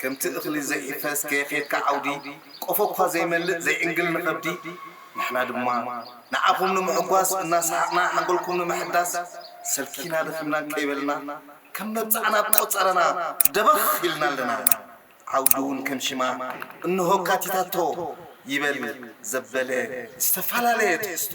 ከምቲ እኽሊ ዘይሕፈስ ከየኼድካ ዓውዲ፣ ቆፎ'ኳ ዘይመልእ ዘይዕንግል ንኸብዲ፣ ንሕና ድማ ንዓኹም ንምሕጓስ እናሰሓቕና ሓንጎልኩም ንምሕዳስ፣ ሰልኪና ደኺምና ከይበልና ከም መብጽዓ ናብ ቆጸራና ደበኽ ኢልና ኣለና። ዓውዲ'ውን ከም ሽማ እንሆ ኣካቲታቶ ይበል ዘበለ ዝተፈላለየ ትሕዝቶ።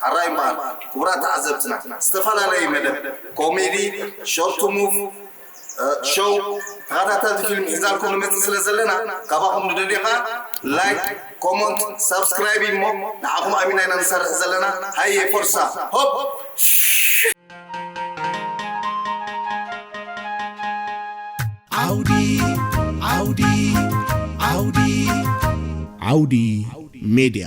ሐራይ እምበኣር ክቡራት ተዓዘብትና ዝተፈላለየ መደብ ኮሜዲ፣ ሾርት ሙቭ፣ ሾው፣ ተኸታተልቲ ፊልም ሒዛልኩም ንመጽእ ስለ ዘለና ካባኹም ንደልዮ ከኣ ላይክ፣ ኮሞንት፣ ሳብስክራይብ ኢሞ ንዓኹም ኣሚና ኢና ንሰርሕ ዘለና ሃየ ፎርሳ ሆፕ! ዓውዲ ሜድያ